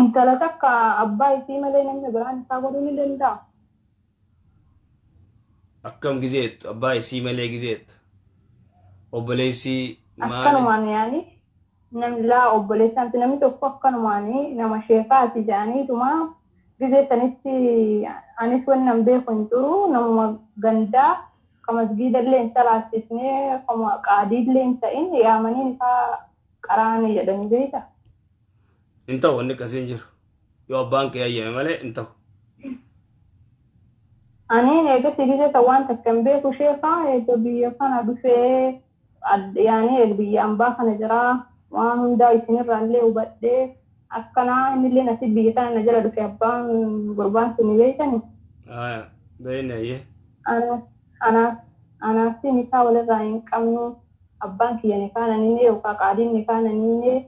Intala takka abbaa isii malee namni biraan isaa godhuu ni danda'a. Akkam gizeettu abbaa isii malee gizeettu obboleessi maali Akkanumaan yaani namni laa obboleessaa miti namni tokko akkanumaan nama sheekaati jedhaniituma gizee sanitti anis wanni nan beeku hin jiru namuma gandaa ka masgiidallee hin salaachisne kama qaadiillee hin ta'in yaamanii nikaa qaraana jedhanii beekta? Hin ta'u wanni akkasii hin jiru. Yoo abbaan kee hayyame malee hin ta'u. Aniin eegasii gisee san waan takka hin beeku sheekaa eega biyya kana dhufee yaanii eeg biyya ambaa kana jiraa waan hundaa isinirraallee hubadhee Akkanaa innillee nasi biyya tana na jala dhufe abbaan gurbaan suni beeytani. Aya beeyne ayyee. Anaas anaas anaasii nikaa walirraa hin qabnu abbaan kiyya nikaa nan himee yookaa qaadiin nikaa nan hiimee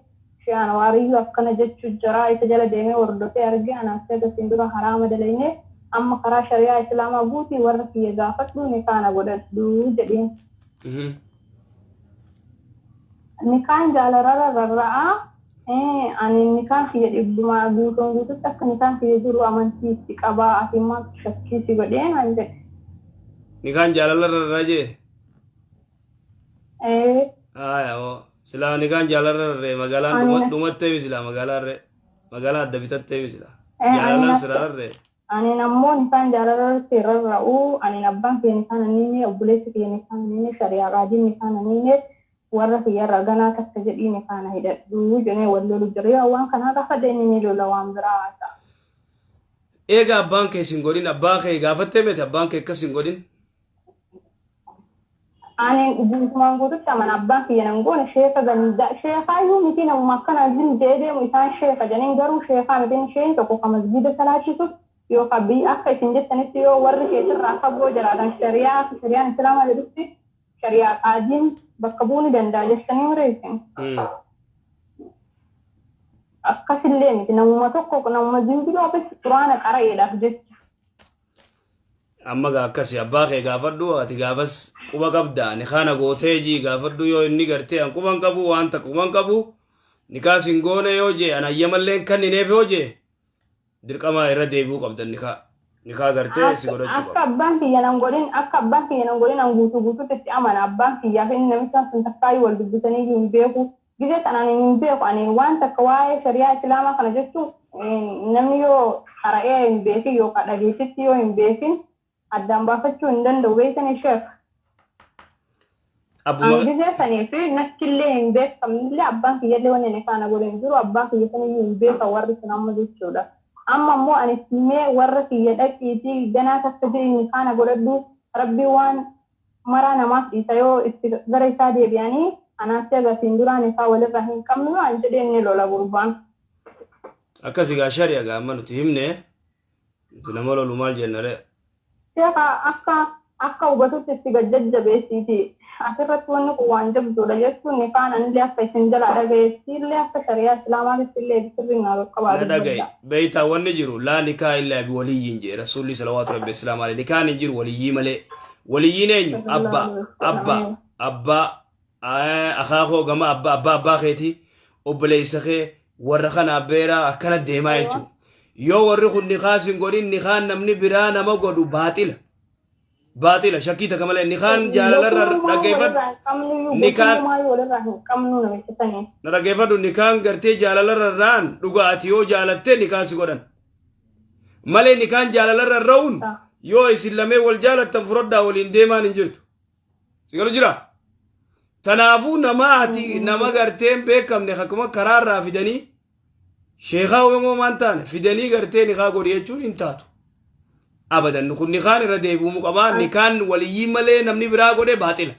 shee anawaariyyuu akkana jechu jaraa isa jala deemee wordofee argee anaasii haga siin dura haraama dalaynee amma karaa shariyaa islaamaa guutii warra kiyya gaafadhu nikaa na godhadhu jedhiin. Nikaan jaalarara rarra'aa ani nikaan kiyya dhibbumaa guutuun guututti akka nikaan kiyya jiru amantii itti qabaa ati maaltu shakkii si godhee naan jedhe. Nikaan jaalala rarraa jee? Ee. Haaya hoo silaa nikaan jaalala rarree magaalaan dhumatteemi silaa magaalaan ree magaalaan adda bitatteemi silaa jaalalaan sirararree. Anin ammo nikaan jaalala irratti rarra'u, anin abbaan kiyya nikaan an hiine, obboleessi kiyya nikaan an hiine, shari'aa qaadiin nikaan an hiine, warra kiyya irraa ganaa takka jedhii nikaa na hidhadhu jedhee wal lolu jira. Yoo an waan kanaa gaafadhe inni ni lola waan biraa haasa'a. Eega abbaan kee sin godhin abbaa kee gaafatte miti abbaan kee akkas sin godhin. Aaneen guutumaan guututti amana abbaan kiyya nan goone sheeka gandaa sheekaayyuu mitii namuma akkanaan zim je'ee deemu isaan sheeka janiin garuu sheekaa miti inni sheeyni tokko ka masgiida salaachisu yookaa biyya akka isin jettanitti yoo warri keetirraa fagoo jiraatan shariyaa akka shariyaan islaamaa jedhutti shariyaa qaadiin bakka bu'uu ni danda'a jettanii mire isin akkasillee miti namuma tokko namuma zim jedhu akkasitti quraana qara'eedhaaf jecha amma gaa akkasi abbaa kee gaafadhu ati gaafas quba qabda ani kaana gootee jii gaafadhu yoo inni gartee an quban qabu waan takka quban qabu nikaa sin goone yoo jee an ayyamalleen kannineef yoo jee dirqamaa irra deebi'uu qabdan nikaa nikaa gartee si godhachuu Akka qaba abbaan kiyya nan godhin akka abbaan kiyya nan godhin an guutuu guutuutti itti amana abbaan kiyyaa fi inni namichaan sun takkaayyuu wal dubbisanii iyyuu hin beeku Gizee san ani hin beeku ani waan takka waa'ee shari'aa islaamaa kana jechuun namni yoo qara'ee hin beekin yookaan dhageettitti yoo hin beekin addaan baafachuu hin danda'u beektanii sheekh. Abbuma Ani gizee sanii fi nattillee hin beekamnillee abbaan kiyyallee wanni ani faana godhe hin jiru abbaa kiyya saniyyuu hin beekan warri sun amma jechuudha. Amma immoo ani itti himee warra kiyya dhaqiitii ganaa takka ji'i nikaana godhadhu rabbi waan maraa namaaf dhiisa yoo itti gara isaa deebi'anii anaas eega asiin duraan isaa walirraa hin qabnu yoo an jedheen ni lola gurbaan. Akkasi gaa shari'a gaa amma nuti himne nuti nama lolu maal jenna ree. Sheekha akka akka hubatutti itti gad jajjabeessiiti asirratti wanni kun waan jabduudha jechuun nikaan anillee akka isin jalaa dhagayetti illee akka shari'aa islaamaatitti illee sirriin naa qaqqabaa na dhagaye dubbadha. beeytaa wanni jiru laa nikaa illaa biwaliyyiin jee rasuulli salawaatu rabbi islaam alee nikaan hin jiru waliyyii malee Waliyyiin eenyu? Abbaa. Abbaa. Abbaa. Aa, Akaakoo gama abbaa abbaa abbaa keetii obboleessa kee warra kana abbeeraa akkana deemaa jechuudha. Yoo warri kun nikaa sin godhin nikaan namni biraa nama godhu baaxila. Baaxila shakkii takka malee nikaan jaalalarra dhaggeeffadhu. Nikaan walirraa hin qabnu namicha sanii. na dhaggeeffadhu nikaan gartee jaalalarra irraan dhugaa ati yoo jaalattee nikaa si godhan. malee nikaan jaalalarra hin ra'uun yoo isin lamee wal jaalattan furadhaa waliin deemaan hin jirtu si galu jira tanaafuu nama ati nama gartee hin beekamne akkuma karaarraa fidanii sheekaa yomoo maan taane fidanii gartee nikaa godhi jechuun hin taatu abadan kun nikaan irra deebi'umu qabaa nikaan waliyyii malee namni biraa godhe baaxila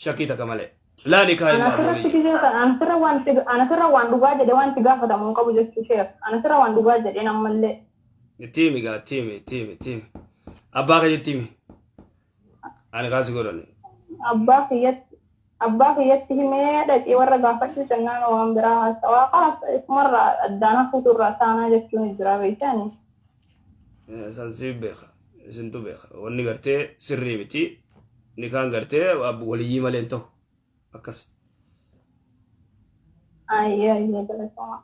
shakkii takka malee laa nikaa hin Ana sirratti maamulii gisee kana ana sirra waan itti ana sirra waan dhugaa jedhe waan itti gaafatamu hin qabu jechuu sheer ana sirra waan dhugaa jedheen ammallee tiimi gaa tiimi tiimi tiimi abbaa kee tiimi ani kaasi godhani abbaa kiyyatti abbaa kiyyatti himee dhaqii warra gaafadhu jennaan waan biraa haasawaa kaas isumarraa addaan hafuutu irraa taanaa jechuun jira beektaani. San si beeka. Isintu beeka. Wanni gartee sirrii miti. Nikaan gartee waliyyii malee hin ta'u. Akkas. Ayyee ayyee galatama.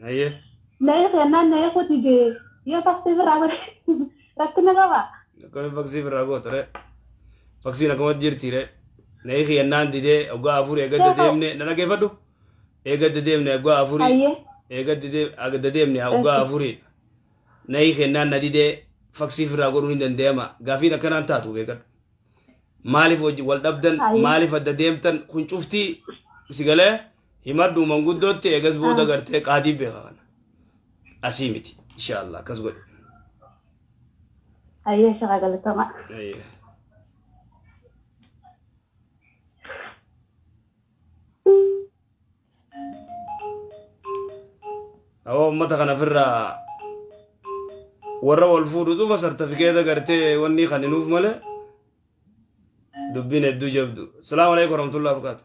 Naye. Naye kennaan naye kuti gee yoo faksii biraa godhe rakkina qaba. Akkami faksii biraa gootu re. Faksiin akkuma jirti re. Naye kennaan didee oggaa afur eegadda deemne na dhageeffadhu. Eegadda deemne oggaa afurii. Hayyee. Eegadda deemne oggaa afurii. Naye kennaan na didee faksii biraa godhuun hin danda'ama. Gaafiin akkanaan taatu beekadhu. Maaliif wal dhabdan Hayyee. maaliif adda deemtan kun cuftii si galee. himadhu manguddootti eegas booda gartee qaadii beeka kana asii miti inshaallah akkas godhe Ayyee shaqa galatama. Ayye. Awwa ummata kana ofirraa warra wal fuudhu dhufa sartifikeeta gartee wanni kan hinuuf malee dubbiin hedduu jabdu. Salaamu alaikum warahmatullahi wabarakatuh.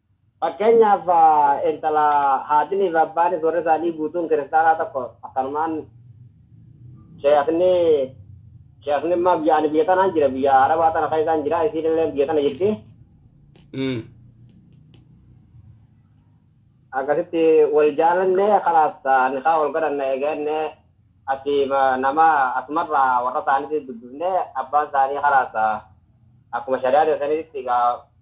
Fakkeenyaaf, intala haatiniifi abbaanis warri isaanii guutuun kiristaanaa tokko akkanumaan sheekni sheekni immaa biyya ani biyya tanaan jira biyya arabaa tana keessaan jira isiin illee biyya tana jirti akkasitti wal jaalanne kalaas nikaa wal godhanne eeganne asi nama asumarraa warra isaaniitti dubbifne abbaan isaanii kalaas akkuma shari'aa teessanitti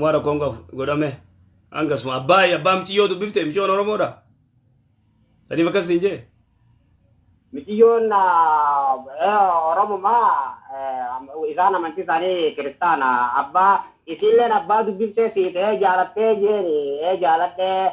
waan rakkoon qabu godhame hangasuma abbaa abbaa miciyyoo dubbifte miciyyoon oromoodha saniif akkas siin jee Miciyyoon Oromuma isaan amantii isaanii kiristaana abbaa isiilleen abbaa dubbiftee siitee jaalattee jeeni ee jaaladhee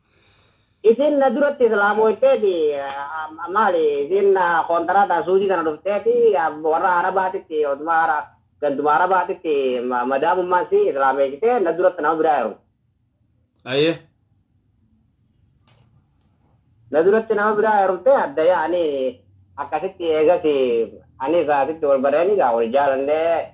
Isin na duratti islaamooyteeti maali isin kontaraata suudii tana dhufteeti warra arabaatitti oduma ara ganduma arabaatitti madaamummaan si islaameessite na duratti nama biraa heerumte. Aye. Na duratti nama biraa heerumte adda yaa'anii akkasitti eegas anis asitti wal barreeni gaa wal jaalannee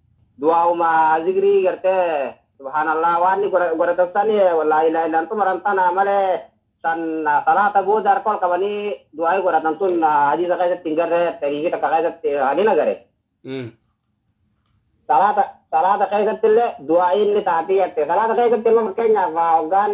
du'aa'uma zikrii gartee subhaanallah waan inni godha- godhatan san laa ilaaha illaan xumuran tana malee san salaata booda harka ol qabanii du'aa'ii godhatan tun hadiisa keessatti hin garre tariifii takka keessatti ani na gare Mm. salaata salaata keessatti illee du'aa'ii inni taatee jette salaata keessatti immoo fakkeenyaaf hoggaan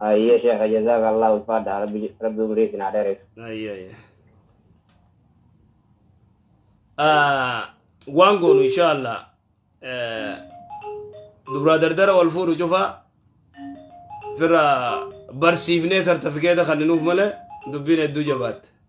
Hayyee sheekha jazaakallah ulfaadha rabbi rabbi umrii isin haa dheeressu. Ayya ayya. Ah, Waan goonu inshaallah eh, dubraa dardara wal fuudhu cufa firra barsiifnee sartifikeeta kanninuuf malee dubbiin hedduu jabaatte.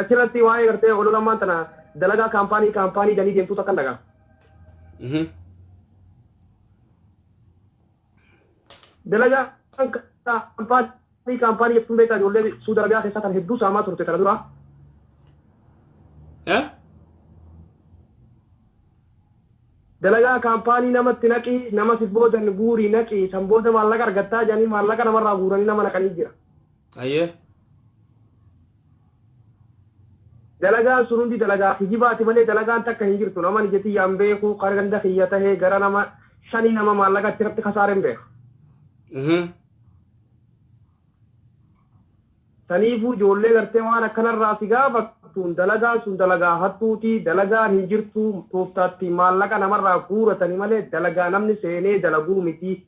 Achirratti waa'ee gartee olola ammaan tana dalagaa kaampaanii kaampaanii janii deemtuu takkan dhagaa. Mhm. Dalagaan kaampaanii kaampaanii jettuun beektaa ijoollee Suudi Arabiyaa keessaa tan hedduu saamaa turte tana dura. Eh? Dalagaa kaampaanii namatti naqii nama si boodan guurii naqii san booda maallaqa argattaa janii maallaqa namarraa guuranii nama naqanii jira. Ayyee. dalagaan sun hundi dalagaa kijibaati malee dalagaan takka hin jirtu nama ija tiyyaan beeku kan ganda kiyya tahee gara nama shanii nama maallaqa itti irratti kasaareen beeka. Mhm. Saniifuu ijoollee gartee waan akkanarraa si gaafattuun dalagaan sun dalagaa hattuuti dalagaan hin jirtu tooftaatti maallaqa namarraa guuratani malee dalagaa namni seenee dalaguu miti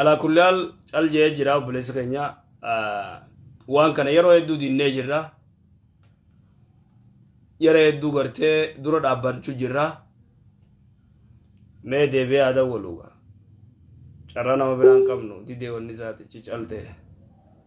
alaa kulli haal cal jee jira obboleessa keenya waan kana yeroo hedduu dinnee jirra yeroo hedduu gartee dura dhaabbachuu jirra mee deebi'ee haa dawwaluuga carraa nama biraan qabnu didee wanni isaatichi caltee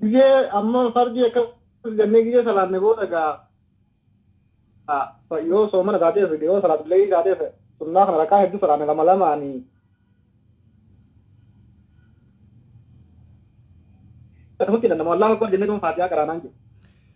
Gizee amma fardii akkas jennee gizee salaanne booda gaa yoo soomana taatee fide yoo salaatu leeyii taatee sunnaa kana rakaa hedduu salaanne lama lamaanii akkasumatti dandama wallaahu akbar jennee tun faatiyaa qaraanaan jiru.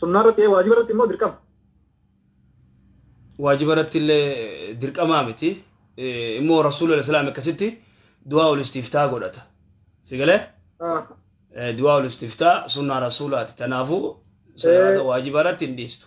sunnaa irratti ee waajiba irratti immoo dirqama waajiba irratti illee dirqamaa miti Eh, immoo rasuula islaam akkasitti du'aa ol istiftaa godhata sigalee Ah, du'aa ol istiftaa sunnaa rasuulaati tanaafuu salaata Eh. waajiba irratti hin dhiistu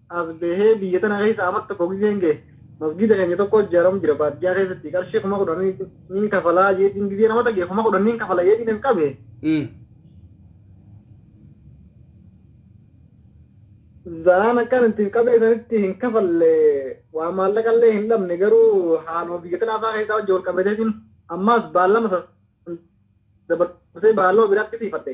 as bahee biyya tana keessa amat tokko gizeen gahe masgiida keenya tokko ijaaramu jira baadiyyaa keessatti qarshii kuma kudhan niin kafalaa jeetiin gizee nama dhagee kuma kudhan niin kafala jeetiin hin qabe Mm. zanaan akkaan itti qabee sanitti hin kafalle waa maallaqallee hin dhabne garuu haaluma biyya tana afaa keessaa wajji wal qabateetiin ammaas baallama san dabarsee baalloo biraatti siifadhe